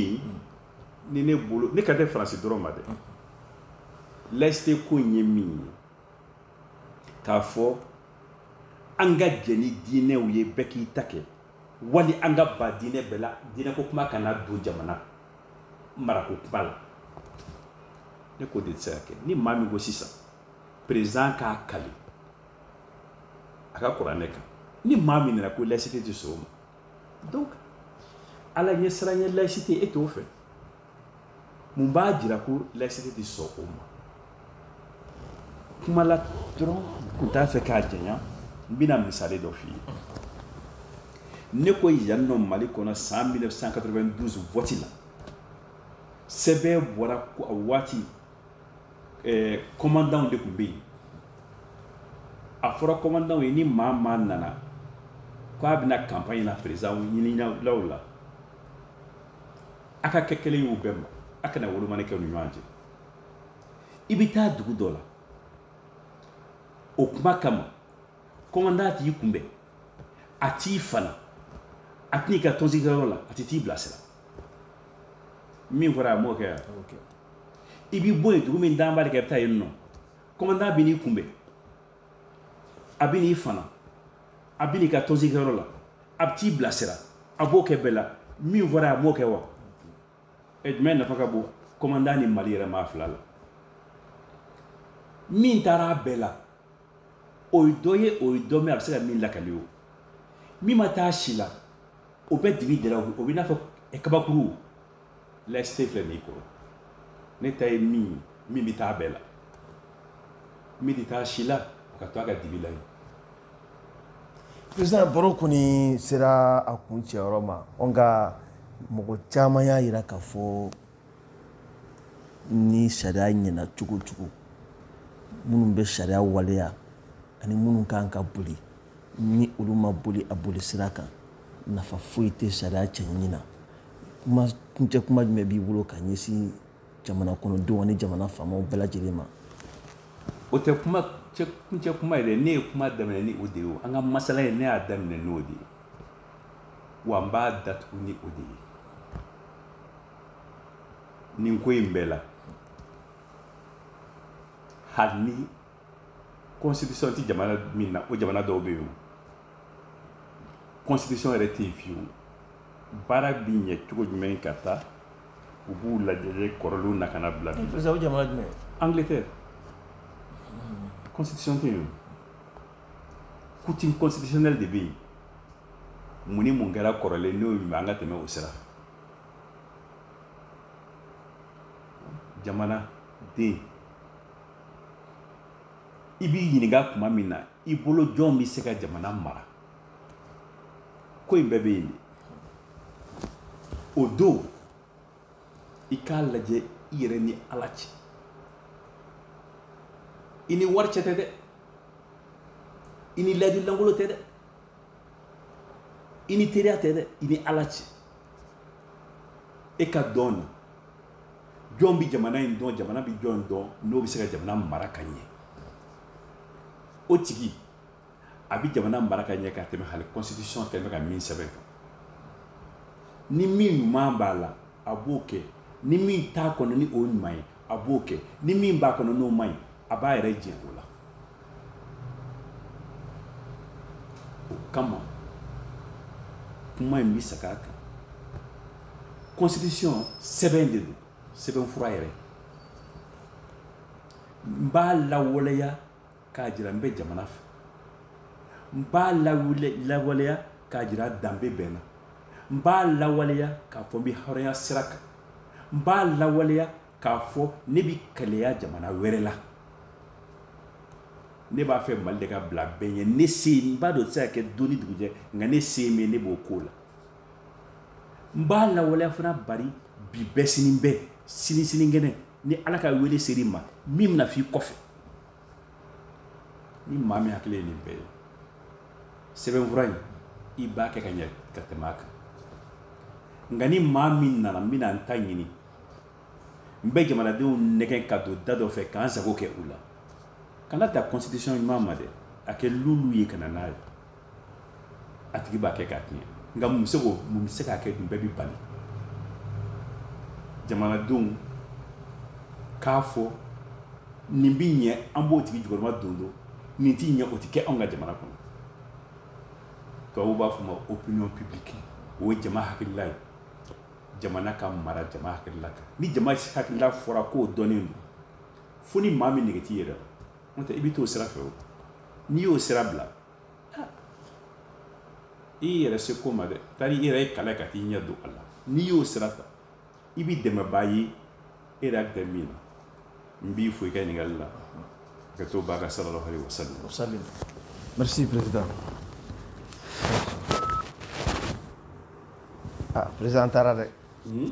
yen ne bolo ne kan tɛ faransi dɔrɔn ma dɛ laïcité ko in ye min ye k'a fɔ an ka jɛn ni diinɛw ye bɛɛ k'i ta kɛ wali an ka ban diinɛ bɛɛ la diinɛ ko kuma kana don jamana marako kuma la ne k'o de tɛ se ka kɛ ni maa min ko sisan peresidan k'a kali a ka kuranɛ kan ni maa min nana ko laïcité tɛ sɔn o ma donc ala ɲɛsiranɲɛ laïcité e t'o fɛ mun b'a jira ko laïcité tɛ sɔn o ma kumala dɔrɔn kun t'a fɛ k'a jɛya n bɛna misali dɔ f'i ye ne ko yan nɔ mali kɔnɔ san 1992 vɔti la sɛbɛn bɔra ko a waati eh, kɔmandanw de tun bɛ yen a fɔra kɔmandanw ye ni maa maa nana k'a bɛ na kanpaɲi na président ɲininlaw la a ka kɛ kelen y'u bɛɛ ma a kana wolomani kɛ u ni ɲɔgɔn cɛ i bɛ taa dugu dɔ la o kuma kama kɔmandan t'i kunbɛn a t'i fana a tɛ n'i ka tɔnsigikɛyɔrɔ la a tɛ t'i bilasira min fɔra a m'o kɛ yan i bɛ bɔ yen dugu min dalen b'ale kan i bɛ taa yen nɔ kɔmandan bɛ n'i kunbɛn a bɛ n'i fana a bɛ n'i ka tɔnsigikɛyɔrɔ la a bɛ t'i bilasira a b'o kɛ bɛɛ la min fɔra a m'o kɛ wa ɛ jumɛn nafa ka bon kɔmandan ni mali yɛrɛ ma a fila la min taara a bɛɛ la o ye dɔ ye o ye dɔ mɛn a bɛ se ka min lakali o min ma taa si la o bɛ dibi de la o bɛ n'a fɔ kabakuru laïcité filɛ nin ye kɔrɔ ne ta ye min ye min bɛ taa bɛɛ la min tɛ taa si la a ka to a ka dibi la yen président baro kɔni sera a kun cɛyɔrɔ ma nka mɔgɔ caman y'a jira k'a fɔ ni sariya ɲɛna cogo o cogo minnu bɛ sariya waleya ani minnu ka kan k'a boli ni olu m'a boli a boli sira kan nafa foyi tɛ sariya cɛɲi na kuma kuncɛ kuma jumɛn b'i bolo ka ɲɛsin jamana kɔnɔdenw ani jamana faamaw bɛɛ lajɛlen ma o tɛ kuma kuncɛ kuma ye dɛ ne ye kuma daminɛ ni o de ye an ka masala ye ne y'a daminɛ n'o de ye wa n b'a datugu ni o de ye nin ko in bɛɛ la hali ni constitution tɛ jamana min na o jamana dɔw bɛ yen o constitution yɛrɛ tɛ yen fiyewu baara bɛ ɲɛ cogo jumɛn k'a ta u b'u lajɛjɛ kɔrɔlenw na ka na bila bi par exemple jamana jumɛn angleterre constitution tɛ yen o coutume constitutionnelle de bɛ yen mun ni mun kɛra kɔrɔlen n'o ɲuman an ka tɛmɛ o sira fɛ jamanaden i b'i ɲininka tuma min na i bolo jɔn bɛ se ka jamana mara ko in bɛɛ bɛ yen de o don i k'a lajɛ i yɛrɛ ni ala cɛ i ni wari cɛ tɛ dɛ i ni layidu lankolo tɛ dɛ i ni teriya tɛ dɛ i ni ala cɛ e ka dɔn na jɔn bɛ jamana in dɔn jamana bɛ jɔn dɔn n'o bɛ se ka jamana mara ka ɲɛ o tigi a bɛ jamana mara ka ɲɛ ka tɛmɛ hali constitution tɛmɛ ka min sɛbɛn kan ni min ɲuman b'a la a b'o kɛ ni min t'a kɔnɔ ni o ɲuman ye a b'o kɛ ni min b'a kɔnɔ n'o man ɲi a b'a yɛrɛ jɛ o la o kama kuma in bɛ segin a kan constitution sɛbɛn de don sɛbɛnfura yɛrɛ n b'a lawaleya k'a jira n bɛ jamana fɛ n b'a lawaleya k'a jira danbe bɛ n na n b'a lawaleya k'a fɔ n bɛ hɔrɔnya sira kan n b'a lawaleya k'a fɔ ne bɛ kɛlɛya jamana wɛrɛ la ne b'a fɛ mali de ka bila bɛɛ ɲɛ ne se n b'a dɔn tɛ se ka kɛ don ni dugujɛ nka ne se min ye ne b'o k'o la n b'a lawaleya fana bari bi bɛ sini bɛ sini sinikɛnɛ ni ala ka wele ser'i ma min bɛna f'i kɔfɛ ni maa min hakili ye nin bɛɛ ye sɛbɛnfura in i b'a kɛ ka ɲɛ ka tɛmɛ a kan nka ni maa min nana n bɛna n ta ɲini n bɛ jamanadenw nɛgɛn ka don da dɔ fɛ ka n sago kɛ u la kana ta constitution ɲuman ma dɛ a kɛ luulu ye ka na n'a ye a tigi b'a kɛ k'a tiɲɛ nka mun bɛ se k'o mun bɛ se k'a kɛ dun bɛɛ bɛ bali jamanadenw k'a fɔ nin bɛ ɲɛ an b'o tigi jukɔrɔma don don nin tɛ ɲɛ o tɛ kɛ anw ka jamana kɔnɔ tubabuw b'a f'a ma opinion publique o ye jama hakilila ye jamana ka mara jama hakilila kan ni jama hakilila fɔra k'o dɔnnen don fo ni maa min nege t'i yɛrɛ la n'o tɛ i bɛ t'o sira fɛ o n'i y'o sira bila i yɛrɛ se ko ma dɛ tari i yɛrɛ ye kala ka t'i ɲɛ don a la n'i y'o sira ta i bɛ dɛmɛbaa ye e yɛrɛ hakili bɛ min na n b'i fo i ka ɲininkali la ka to ba ka sallallahu alaihi wasallam merci président ah président taara dɛ hmm?